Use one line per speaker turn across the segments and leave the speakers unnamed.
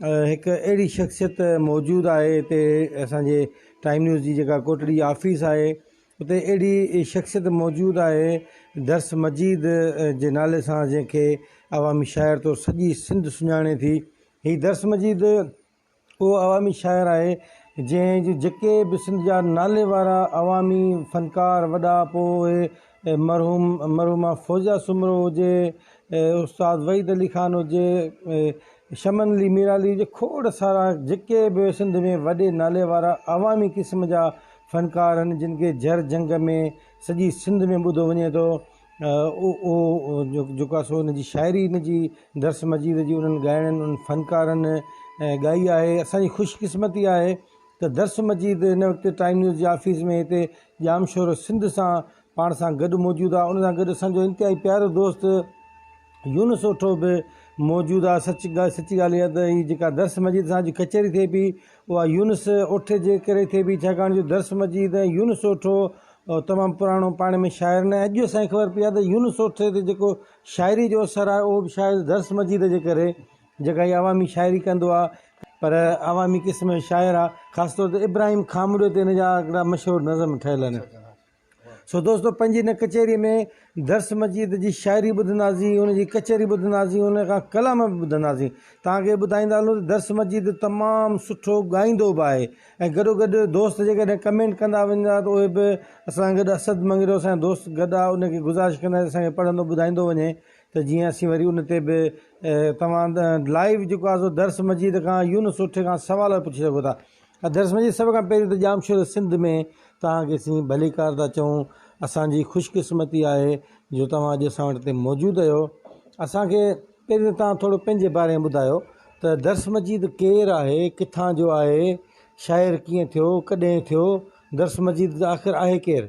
هڪ اهڙي شخصيت موجود آهي هتي اسان جي ٽائيم نيوز جي جيڪا ڪوٽڙي آفيس آهي اتي اهڙي شخصيت موجود آهي درس مجيد جي نالي سان جنهن کي عوامي شاعر طور سڄي سنڌ سڃاڻي ٿي هي درس مجيد اهو عوامي شاعر آهي جنهن جي جيڪي به سنڌ جا نالي وارا عوامي فنڪار وڏا پوء مرحوم مرحومه فوزيه سومرو هجي، استاد وحيد علي خان هجي، شمن علي ميرعلي هجي کوڙ سارا جيڪي به سنڌ ۾ وڏي نالي وارا عوامي قسم جا فنڪار آهن جن کي جر جهنگ ۾ سڄي سنڌ ۾ ٻڌو وڃي ٿو اهو جيڪو آهي سو ان جي شاعري ان جي درس مجيد جي انهن ڳائڻن انهن فنڪارن ڳائي آهي اسان جي خوش قسمتي آهي ته درس مجيد هن وقت ٽائيم نيوز جي آفيس ۾ هتي ڄام شور سنڌ سان پاڻ سان گڏ موجود آ ان سان گڏ اسان جو انتهائي پيارو دوست يونس اوٺو به موجود آ سچ ڳالهه سچي ڳالهه اها ته هي جيڪا درس مجيد سان اڄ ڪچهري ٿئي پئي اها يونس اوٺي جي ڪري ٿئي پئي ڇاڪاڻ جو درس مجيد ۽ يونس اوٺو تمام پراڻو پاڻ ۾ شاعر نه اڄ اسان کي خبر پئي آ ته يونس اوٺي تي جيڪو شاعري جو اثر آ اهو به شايد درس مجيد جي ڪري جيڪا هي عوامي شاعري ڪندو آ پر عوامي قسم جو شاعر آ خاص طور تي ابراهيم کامڙيو تي هن جا هڪڙا مشهور نظم ٺهيل آهن سو دوستو پنهنجي هن ڪچهري ۾ درس مجيد جي شاعري ٻڌنداسين ان جي ڪچهري ٻڌنداسين ان کان ڪلام به ٻڌنداسين توهان کي ٻڌائيندا هلون ته درس مجيد تمام سٺو ڳائيندو به آهي ۽ گڏو گڏ دوست جيڪڏهن ڪمينٽ ڪندا ويندا ته اهي به اسان سان گڏ اسد مڱريو اسان جو دوست گڏ آ ان کي گذارش ڪنداسين اسان کي پڙهندو ٻڌائيندو وڃي ته جيئن اسين وري ان تي به توهان لائيو جيڪو آهي سو درس مجيد کان يونس اٺي کان سوال پڇي سگهو ٿا درس مجيد سڀ کان پهرين ته ڄامشوري سنڌ ۾ توهان کي اسين ڀليڪار ٿا چئون اسان جي خوش قسمتي آهي جو توهان اڄ اسان وٽ هتي موجود اهيو اسان کي پهرين ته توهان ٿورو پنهنجي باري ۾ ٻڌايو ته درس مجيد ڪير آهي ڪٿان جو آهي شاعر ڪيئن ٿيو ڪڏهن ٿيو درس مجيد آخر آهي ڪير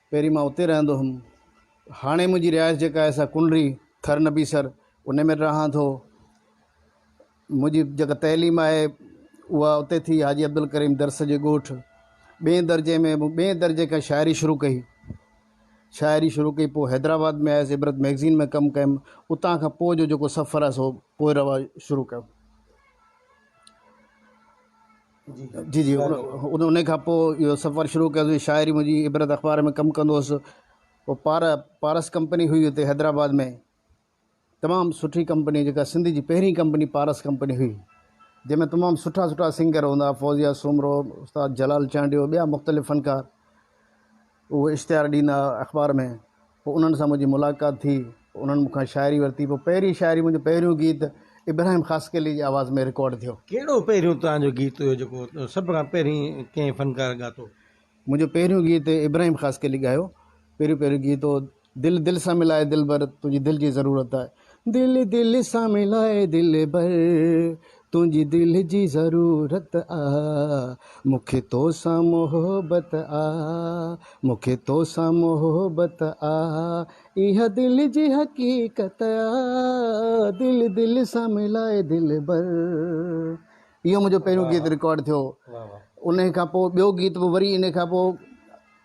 پهرين مان اتي رهندو هوم. هاڻي منهنجي رهائش جيڪا آهي سا ڪنري، ٿر نبيسر، انهي ۾ رهان ٿو. منهنجي جيڪا تعليم آهي اها اتي ٿي حاجي عبدالڪريم درس جي ڳوٺ. ٻئي درجي ۾ مون ٻئي درجي کان شاعري شروع ڪئي. شاعري شروع ڪئي پوء حيدرآباد ۾ آيس عبرت مئگزين ۾ ڪم ڪيم. اتان کان پوء جو جيڪو سفر آهي سو پوء رواج شروع ڪيو. جي جي ان کان پوء اهو سفر شروع ڪيوسي شاعري منهنجي عبرت اخبار ۾ ڪم ڪندو هوس پوء پار پارس ڪمپني هئي اتي حيدرآباد ۾ تمام سٺي ڪمپني جيڪا سنڌ جي پهرين ڪمپني پارس ڪمپني هئي جنهن ۾ تمام سٺا سٺا سنگر هوندا فوزيا سومرو استاد جلال چانڊيو ٻيا مختلف فنڪار اهو اشتهار ڏيندا ها اخبار ۾ پوء انهن سان منهنجي ملاقات ٿي پوء انهن مون کان شاعري ورتي پوء پهرين شاعري منهنجو پهريون گيت ابراهيم خاصخيلي جي آواز ۾ رڪارڊ ٿيو. ڪهڙو پهريون توهان
جو گيت هيو جيڪو سڀ کان پهرين ڪنهن فنڪار ڳاتو؟ منهنجو پهريون
گيت ابراهيم خاصخيلي ڳايو پهريون پهريون گيت هو دل دل سان ملائي دلبر تنهنجي دل جي ضرورت آهي. دل دل سان ملائي دلبر تنهنجي دل جي ضرورت آ مون کي تو سان محبت آ مون کي تو سان محبت آ اها دل جي حقيقت آ دل دل سان ملائي دلبر اهو منهنجو پهريون گيت رڪارڊ ٿيو انهي کان پوء ٻيو گيت به وري انهي کان پوء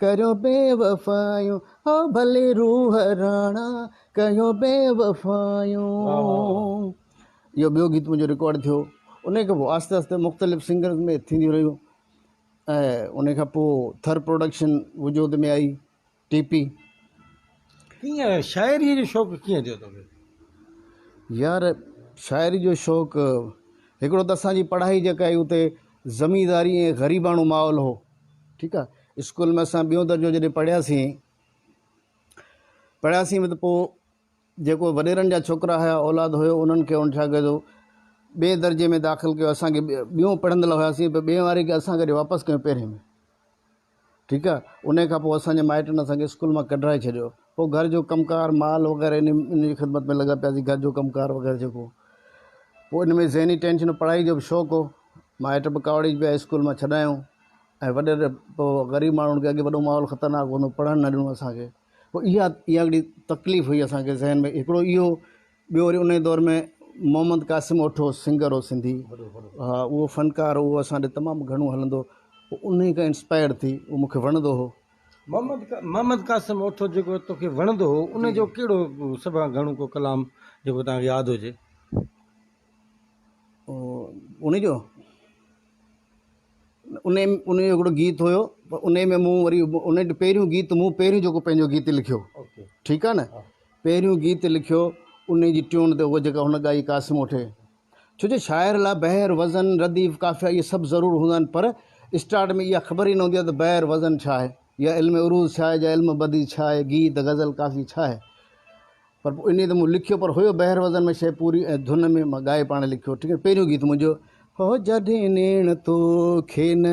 ڪريو بي وفايون هو ڀلي روح راڻا ڪيو بي وفايون واه واه واه. اهو ٻيو گيت منهنجو رڪارڊ ٿيو ان کان پوء آهستي آهستي مختلف سنگرز ۾ ٿينديون رهيون ۽ ان کان پوء ٿر پروڊڪشن وجود ۾ آئي ٽي پي
ڪيئن شاعري جو شوق ڪيئن ٿيو توکي
يار شاعري جو شوق هڪڙو ته اسان جي پڙهائي جيڪا هئي اتي زمينداري ۽ غريباڻو ماحول هو ٺيڪ آ اسڪول ۾ اسان ٻيون درجو جڏهن پڙهياسين پڙهياسين به ته پوء جيڪو وڏيرن جا ڇوڪرا هيا اولاد هيو انهن کي ان ڇا ڪيو ٻئي درجي ۾ داخل ڪيو اسان کي ٻيون پڙهندل هياسين پر ٻئي واري کي اسان وري واپس ڪيو پهرين ۾ ٺيڪ آ ان کان پوء اسان جي مائٽن اسان کي اسڪول مان ڪڍرائي ڇڏيو پوء گهر جو ڪم ڪار مال وغيره ان ان جي خدمت ۾ لڳا پياسي گهر جو ڪم ڪار وغيره جيڪو هو پوء ان ۾ ذهني ٽينشن هو پڙهائي جو به شوق هو مائٽ به ڪاوڙي پيا اسڪول مان ڇڏايائون ۽ وڏير پوء غريب ماڻهن کي اڳي وڏو ماحول خطرناڪ هوندو پڙهڻ نه ڏنو اسان کي پوء اها اها هڪڙي تڪليف هئي اسان کي ذهن ۾ هڪڙو اهو ٻيو وري ان دور ۾ محمد قاسم اوٺو سنگر هو سنڌي ها اهو فنڪار هو اسان ڏي تمام گهڻو هلندو هو انهي کان انسپائر ٿي هو مون کي وڻندو هو محمد
قاسم اوٺو جيڪو توکي وڻندو هو ان جو ڪهڙو سڀ کان گهڻو ڪو ڪلام جيڪو توهان کي ياد هجي؟
ان جو ان ان جو هڪڙو گيت هيو پر ان ۾ مون وري ان جو پهريون گيت مون پهريون جيڪو پنهنجو گيت لکيو ٺيڪ آهي نه پهريون گيت لکيو ان جي ٽيون تي هو جيڪا هن ڳائي قاسم اوٺي ڇو جو شاعر لاء بحر، وزن، رديف، قافيه اهي سڀ ضرور هوندا آهن پر اسٽارٽ ۾ اها خبر ئي نه هوندي آهي ته بحر، وزن، ڇا آهي يا علم عروض ڇا آهي جا علم بديع ڇا آهي، گيت، غزل، قافيه ڇا آهي. پر پوء انهيء تي مون لکيو پر هيو بحر وزن ۾ شيء پوري ۽ ڌن ۾ مان ڳائي پاڻ لکيو ٺيڪ آهي پهريون گيت منهنجو. هو جڏهن نيڻ توکي نه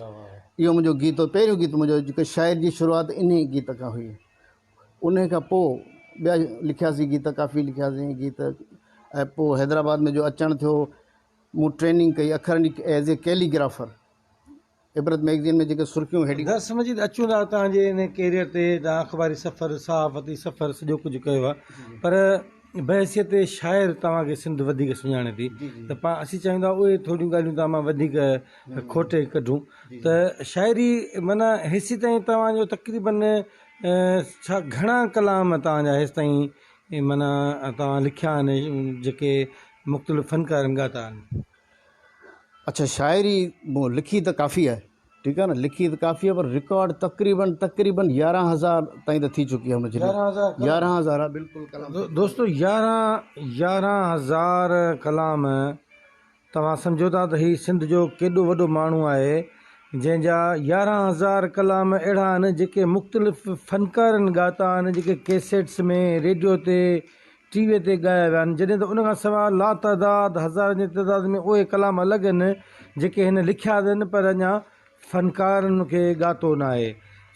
اهو منهنجو گيت هو پهريون گيت منهنجو جيڪو شاعر جي شروعات ان ئي گيت کان هئي ان کان پوء ٻيا لکياسي گيت ڪافي لکياسي گيت ۽ پوء حيدرآباد ۾ جو اچڻ ٿيو مون ٽريننگ ڪئي اکرن جي as a calligrapher Ibrat magazine ۾ جيڪي سرخيون هيڊي درس مجيد اچون ٿا
تان جي ان ڪيريئر تي تان اخباري سفر صحافتي سفر سڄو ڪجهه ڪيو آهي پر بحيثيت شاعر توهان کي سنڌ وڌيڪ سڃاڻي ٿي ته پا اسين چاهيون ٿا اهي ٿوريون ڳالهيون توهان مان وڌيڪ کوٽي ڪڍون ته شاعري معنيٰ هيسي تائين توهان جو تقريباً ڇا گهڻا ڪلام توهان جا هيس تائين معنيٰ توهان لکيا آهن جيڪي مختلف فنڪارن ڳاتا آهن
اڇا شاعري مون لکي ته ڪافي آهي ٺيڪ آهي نه لکي ته ڪافي آهي پر رڪارڊ تقريبا تقريبا يارهن هزار تائين ته ٿي چڪي آهي مجرم يارهن هزار ڪلام. يارهن هزار آهي بلڪل ڪلام دو- دوستو يارهن
يارهن هزار ڪلام توهان سمجهو ٿا ته هي سنڌ جو ڪيڏو وڏو ماڻهو آهي جنهن جا يارهن هزار ڪلام اهڙا آهن جيڪي مختلف فنڪارن ڳاتا آهن جيڪي ڪيسيٽس ۾ ريڊيو تي ٽي ويء تي ڳايا ويا آهن، جڏهن ته ان کان سواء لاتعداد هزارن جي تعداد ۾ اهي ڪلام الڳ آهن، جيڪي هن لکيا اٿن پر اڃا فنڪارن ان کي ڳاتو نه آهي.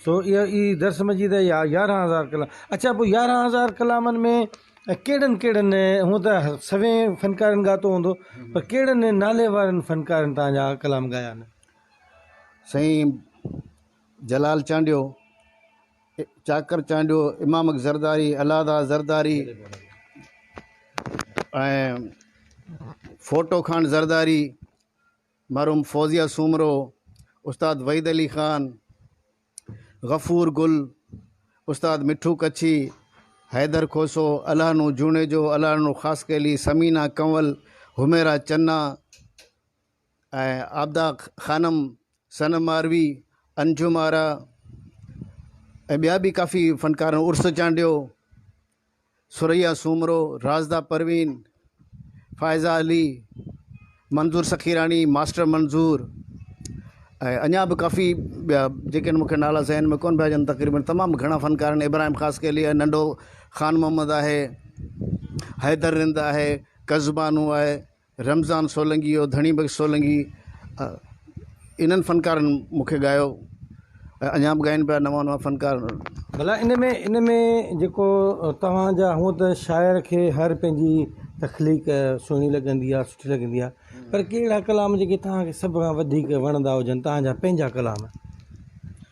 سو اهي ئي درس مجيد آهي يا يارهن هزار ڪلام. اڇا پوء يارهن هزار ڪلامن ۾ ڪهڙن ڪهڙن، هونء ته سوين فنڪارن ڳاتو هوندو، پر ڪهڙن ناليوارن فنڪارن توهان جا ڪلام ڳايا آهن؟ سائين
جلال چانڊيو چاڪر چانڊيو، امامڪ زرداري، الهداد زرداري ۽ ڦوٽو خان زرداري، مرحوم فوزيه سومرو، استاد وحيد علي خان، غفور گل، استاد مٺو ڪڇي، حيدر کوسو، الهڏنو جوڻيجو، الهڏنو خاصخيلي، ثمينه ڪنول، حميرا چنا، ۽ عابده خانم، صنم ماروي، انجم آرا ۽ ٻيا به ڪافي فنڪارن عرس چانڊيو، ثريا سومرو، راشده پروين، فائزه علي، منظور سخيراڻي، ماسٽر منظور ۽ اڃا به ڪافي ٻيا جيڪي مونکي نالا ذهن ۾ ڪون پيا اچن تقريبن تمام گهڻا فنڪارن ابراهيم خاص کي لي ننڍو خان محمد آهي، حيدر رند آهي، قزبانو آهي رمضان سولنگي ۽ ڌڻي بخش سولنگي انهن فنڪارن مون کي ڳايو ۽ اڃا به ڳائين پيا نوان نوان فنڪار. ڀلا ان ۾
ان ۾ جيڪو توهان جا هونئن ته شاعر کي هر پنهنجي تخليق سهڻي لڳندي آهي سٺي لڳندي آهي پر ڪي اهڙا ڪلام جيڪي توهان کي سڀ کان وڌيڪ وڻندا هجن توهان جا پنهنجا ڪلام.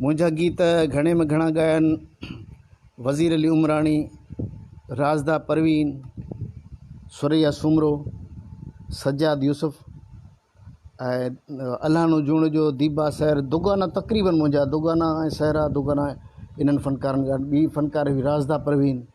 منهنجا
گيت گهڻي ۾ گهڻا ڳاين وزير علي عمراڻي، راشده پروين، ثريا سومرو، سجاد يوسف ۽ الهانو جوڻيجو، ديبا سحر، دوگانا تقريبن منهنجا دوگانا ۽ سحرا دوگانا انهن فنڪارن ڳايا، ٻي فنڪار هئي راشده پروين،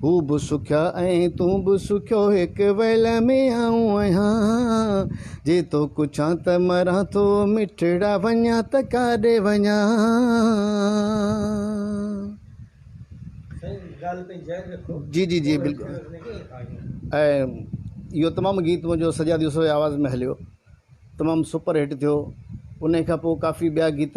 هو به سکيا ۽ تون به سکيو هڪ ويل ۾ آئون آهيان جي تو ڪڇان ته مران ٿو مٺڙا وڃان ته ڪاڏي وڃان. جي جي جي بلڪل ۽ اهو تمام گيت منهنجو سجاد يوسف جي آواز ۾ هليو تمام سپر هٽ ٿيو انهي کان پوء ڪافي ٻيا گيت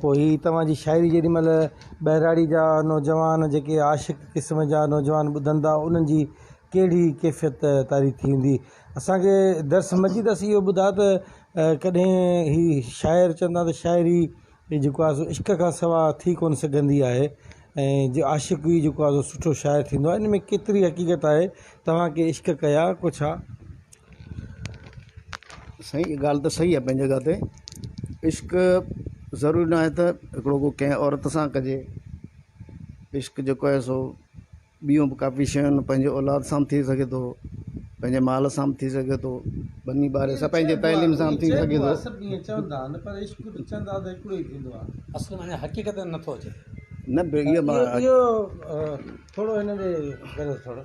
پوء هي توهان جي شاعري جيڏي مهل ٻهراڙي جا نوجوان جيڪي عاشق قسم جا نوجوان ٻڌن ٿا انهن جي ڪهڙي ڪيفيت طاري ٿي هوندي اسان کي درس مجيد اسين اهو ٻڌا ته ڪڏهن هي شاعر چوندا ته شاعري هي جيڪو آهي سو عشق کان سوا ٿي ڪونه سگهندي آهي ۽ جي عاشق ئي جيڪو آهي سو سٺو شاعر ٿيندو آهي ان ۾ ڪيتري حقيقت آهي توهان ڪي عشق ڪيا ڪو ڇا
سائين هي ڳالهه ته صحيح آهي پنهنجي جڳهه تي عشق ضروري ناهي ته هڪڙو ڪو ڪنهن عورت سان ڪجي عشق جيڪو آهي سو ٻيون به ڪافي شيون آهن پنهنجي اولاد سان به ٿي سگهي ٿو پنهنجي مال سان به ٿي سگهي ٿو ٻني ٻاري سان پنهنجي تعليم سان به ٿي سگهي ٿو
نه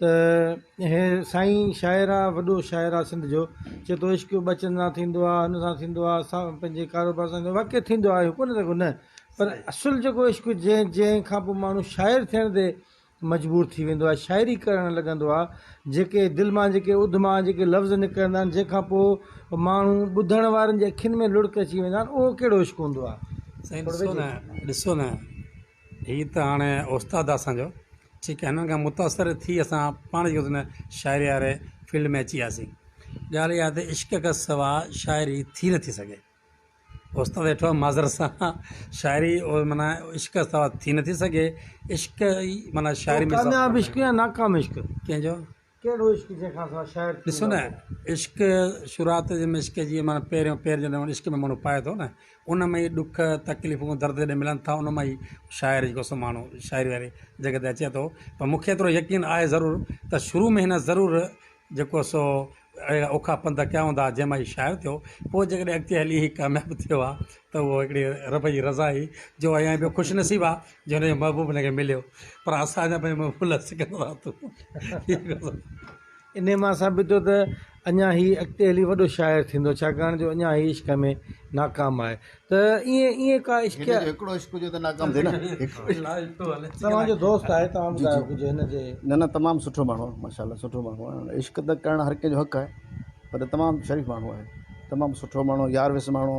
ته هي سائين شاعر آ وڏو شاعر آ سنڌ جو چي تو عشق ٻچن سان ٿيندو آ هن سان ٿيندو آ سا پنهنجي ڪاروبار سان واقعي ٿيندو آ اهو ڪونه ٿي سگهو نه پر اصل جيڪو عشق جنهن جنهن کان پوء ماڻهو شاعر ٿيڻ تي مجبور ٿي ويندو آ شاعري ڪرڻ لڳندو آ جيڪي دل مان جيڪي اڌ مان جيڪي لفظ نڪرندا آهن جنهن کان پوء ماڻهو ٻڌڻ وارن جي اکين ۾ لڙڪ اچي ويندا آهن اهو ڪهڙو عشق هوندو آ سائين ڏسو نه ڏسو
نه هي ته هاڻي استاد آ اسانجو ٺيڪ آ هنن کان متاثر ٿي اسان پاڻ جيڪو چئندا آهن شاعري واري فيلڊ ۾ اچي وياسين ڳالهه اها ته عشق کان سوا شاعري ٿي نٿي سگهي استاد ويٺو آ معذرت سان شاعري او معنيٰ عشق کان سوا ٿي نٿي سگهي
عشق
ئي
معنيٰ
شاعري ۾ ڪامياب عشق يا ناڪام
عشق
ڪنهنجو ڪهڙو
عشق جنهن کان سواء شاعر ٿيندو. ڏسو نه
عشق شروعات جي ۾ عشق جي معنيٰ پهريون پير جڏهن ان عشق ۾ ماڻهو پائي ٿو نه ان ۾ ئي ڏک تڪليفون درد جڏهن ملن ٿا ان مان ئي شاعر جيڪو سو ماڻهو شاعري واري جڳهه تي اچي ٿو پر مون کي ايترو يقين آهي ضرور ته شروع ۾ هن ضرور جيڪو سو اهڙا اوکا پنڌ ڪيا هوندا جنهن مان هي شاعر ٿيو پوء جيڪڏهن اڳتي هلي هي ڪامياب ٿيو آهي ته اهو هڪڙي رب جي رضا آهي جو ايئن به خوش نصيب آهي جنهن جو محبوب هن کي مليو پر اسان جا پنهنجا محبوب لاء سڪندڙ راتون. انهي
مان ثابت ٿيو ته اڃا هي اڳتي هلي وڏو شاعر ٿيندو ڇاڪاڻ جو اڃا هي عشق ۾ ناڪام آهي ته ائين ائين ڪا عشق. هن جو هڪڙو عشق هجي ته
ناڪام ٿئي نه
توهان جو دوست آهي توهان ٻڌايو ڪجهه هن جي. نه نه تمام سٺو ماڻهو
آهي ماشاء الله سٺو ماڻهو آهي عشق ته ڪرڻ هر ڪنهن جو حق آهي پر تمام شريف ماڻهو آهي تمام سٺو ماڻهو يار ويس ماڻهو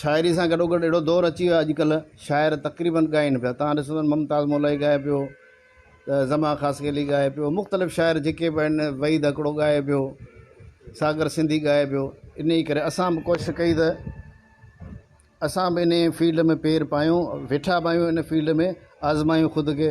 شاعري سان گڏوگڏ اهڙو دور اچي ويو آهي اڄڪلهه شاعر تقريبن ڳائين پيا تان ڏسو ته ممتاز مولائي ڳائي پيو ته زمان خاصخيلي ڳائي پيو مختلف شاعر جيڪي به آهن وحيد هڪڙو ڳائي پيو ساگر سنڌي ڳائي پيو ان ئي ڪري اسان به ڪوشش ڪئي ته اسان به ان فيلڊ ۾ پير پايون ويٺا به آهيون ان فيلڊ ۾ آزمايون خود کي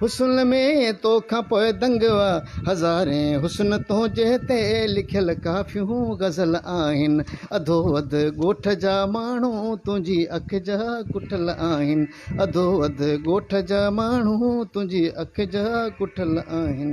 حسن ۾ تو کان پوء دنگ وا هزارين حسن تنهنجي تي لکيل ڪافيون غزل آهن اڌو اڌ ڳوٺ جا ماڻهو تنهنجي اک جا ڪٺل آهن اڌو اڌ ڳوٺ جا ماڻهو تنهنجي اک جا ڪٺل آهن.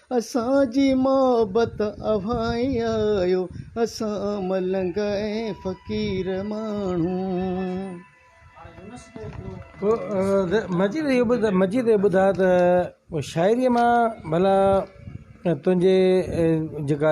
اسان جي محبت اوهان ئي آهيو. اسان ملنگ ۽ فقير ماڻهو.
مجيد اهو ٻڌ مجيد اهو ٻڌاء ته شاعريء مان ڀلا تنهنجي جيڪا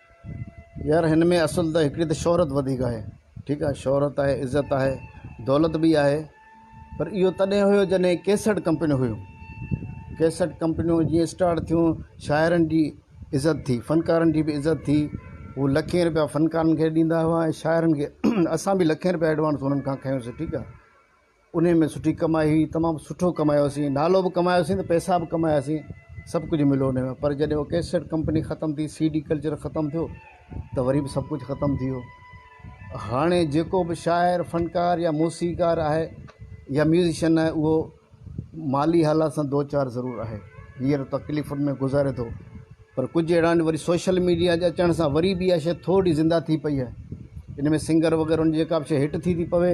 يار هن ۾ اصل ته هڪڙي ته شهرت وڌيڪ آهي ٺيڪ آهي شهرت آهي عزت آهي دولت به آهي پر اهو تڏهن هيو جڏهن ڪيسٽ ڪمپنيون هيون ڪيسٽ ڪمپنيون جيئن اسٽارٽ ٿيون شاعرن جي عزت ٿي فنڪارن جي به عزت ٿي هو لکين رپيا فنڪارن کي ڏيندا هئا ۽ شاعرن کي اسان به لکين رپيا ايڊوانس هنن کان کنيوسي ٺيڪ آهي انهي ۾ سٺي ڪمائي هئي تمام سٺو ڪمايوسين نالو به ڪمايوسين ته پئسا به ڪماياسين سڀ ڪجهه مليو انهي ۾ پر جڏهن هو ڪيسٽ ڪمپني ختم ٿي سي ڊي ڪلچر ختم ٿيو ته وري به سڀ ڪجهه ختم ٿي ويو هاڻي جيڪو به شاعر فنڪار يا موسيقار آهي يا ميوزيشن آهي اهو مالي حالات سان دو چار ضرور آهي هينئر تڪليفن ۾ گذاري ٿو پر ڪجهه اهڙا آهن وري سوشل ميڊيا جي اچڻ سان وري به اها شيء ٿورڙي زنده ٿي پئي آهي ان ۾ سنگر وغيره ان جي ڪا به شيء هٽ ٿي ٿي پوي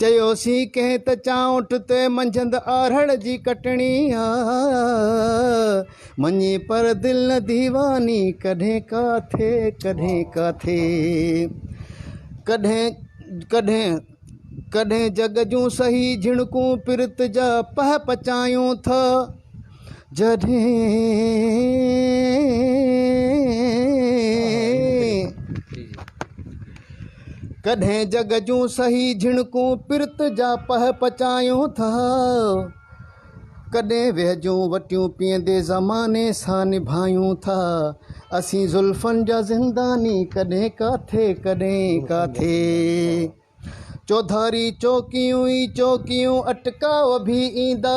چيوسين ڪنهن ته چانئٺ تي منجهند آرهڙ جي ڪٽڻي آ مڃي پر دل نه ديواني ڪڏهن ڪاٿي ڪڏهن ڪاٿي ڪڏهن ڪڏهن ڪڏهن جڳ جون سهي جهڻڪون پرت جا پهه پچايون ٿا جڏهن ڪڏهن جڳ جون سهي جهڻڪون پرت جا پهه پچايون ٿا، ڪڏهن ويهه جون وٽيون پيئندي زماني سان نڀايون ٿا، اسين زلفن جا زنداني ڪڏهن ڪاٿي ڪڏهن ڪاٿي، چوڌاري چوڪيون ئي چوڪيون اٽڪاء وڀي ايندا.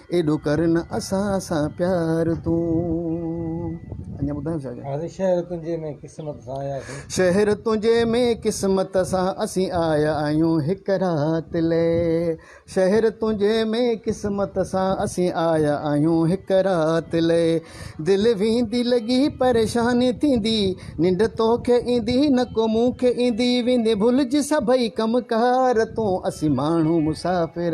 ايڏو ڪر نه اسان سان پيار تون. شهر تنهنجي ۾ قسمت سان آيا سين.
شهر تنهنجي
۾ قسمت سان اسين آيا آهيون هڪ رات لئي. شهر تنهنجي ۾ قسمت سان اسين آيا آهيون هڪ رات لئي. دل ويندي لڳي پريشان ٿيندي ننڊ توکي ايندي نه ڪو مون کي ايندي ويندي ڀلج سڀئي ڪم ڪار تون اسين ماڻهو مسافر.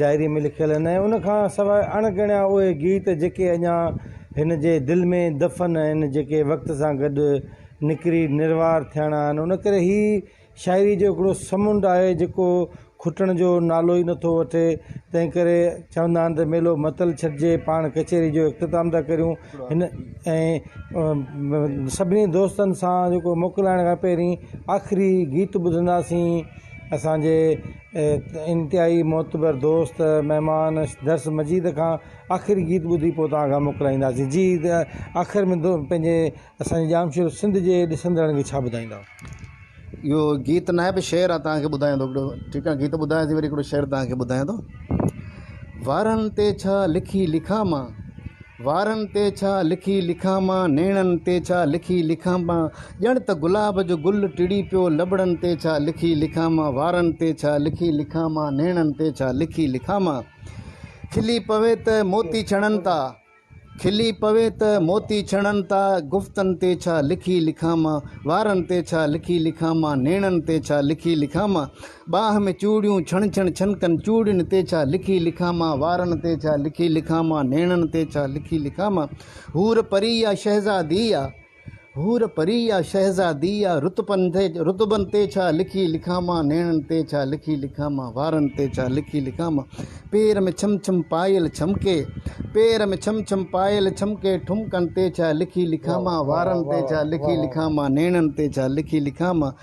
ڊائريء ۾ لکيل آهن ۽ ان کان سواء اڻ ڳڻيا اهي گيت جيڪي اڃا هن جي دل ۾ دفن آهن، جيڪي وقت سان گڏ نکري نروار ٿيڻا آهن. ان ڪري هي شاعريء جو هڪڙو سمنڊ آهي جيڪو کٽڻ جو نالو ئي نٿو وٺي. تنهن ڪري چوندا آهن ته ميلو متل ڇڏجي، پاڻ ڪچهري جو اختتام ٿا ڪريون. هن ۽ سڀني دوستن سان جيڪو موڪلائڻ کان پهرين آخري گيت ٻڌنداسين اسان جي. انتهائي معتبر دوست مهمان درس مجيد کان آخري گيت ٻڌي پوء توهان کان موڪلائينداسين جي ته آخر ۾ دو پنهنجي اسان ڄامشورو سنڌ جي ڏسندڙن کي ڇا ٻڌائيندا. اهو
گيت ناهي پر شعر آهي توهان کي ٻڌايان ٿو هڪڙو ٺيڪ آهي گيت ٻڌايان ٿي وري هڪڙو شعر توهان کي ٻڌايان ٿو وارن تي ڇا لکي لکان مان وارن تي ڇا لکي لکان مان، نيڻن تي ڇا لکي لکان مان، ڄڻ ته گلاب جو گل ٽڙي پيو، لٻڙن تي ڇا لکي لکان مان، وارن تي ڇا لکي لکان مان، نيڻن تي ڇا لکي لکان مان. کلي پوي ته موتي ڇڻن تا، کلي پوي ته موتي ڇڻن تا، گفتن تي ڇا لکي لکان مان، وارن تي ڇا لکي لکان مان، نيڻن تي ڇا لکي لکان مان. ٻانهن ۾ چوڙيون ڇڻ ڇڻ ڇنڪن چوڙين تي ڇا لکي لکان مان وارن تي ڇا لکي لکان مان نيڻن تي ڇا لکي لکان مان حور پري يا شهزادي يا حور پري يا شهزادي يا رتبن تي رتبن تي ڇا لکي لکان مان نيڻن تي ڇا لکي لکان مان وارن تي ڇا لکي لکان مان پير ۾ ڇم ڇم پايل ڇمڪي پير ۾ ڇم ڇم پايل ڇمڪي ٺمڪن تي ڇا لکي لکان مان وارن تي ڇا لکي لکان مان نيڻن تي ڇا لکي لکان مان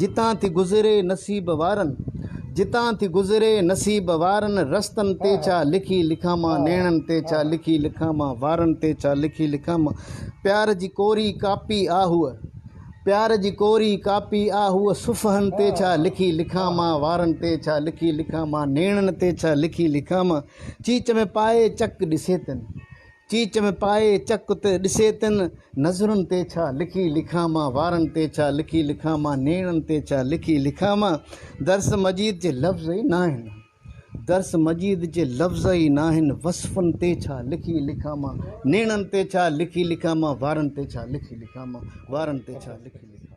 جتان ٿي گذري نصيب وارن. جتان ٿي گذري نصيب وارن رستن تي ڇا لکي لکان مان نيڻن تي ڇا لکي لکان مان وارن تي ڇا لکي لکان مان پيار جي ڪوري ڪاپي آ هوء پيار جي ڪوري ڪاپي آ هوء صفحن تي ڇا لکي لکان مان وارن تي ڇا لکي لکان مان نيڻن تي ڇا لکي لکان مان چيچ ۾ پائي چڪ ڏسي تن چيچ ۾ پائي چڪ تي ڏسي تن نظرن تي ڇا لکي لکان مان وارن تي ڇا لکي لکان مان نيڻن تي ڇا لکي لکان مان درس مجيد جي لفظ ئي ناهن درس مجيد جي لفظ ئي ناهن وصفن تي ڇا لکي لکان مان نيڻن تي ڇا لکي لکان مان وارن تي ڇا لکي لکان مان وارن تي ڇا لکي لکان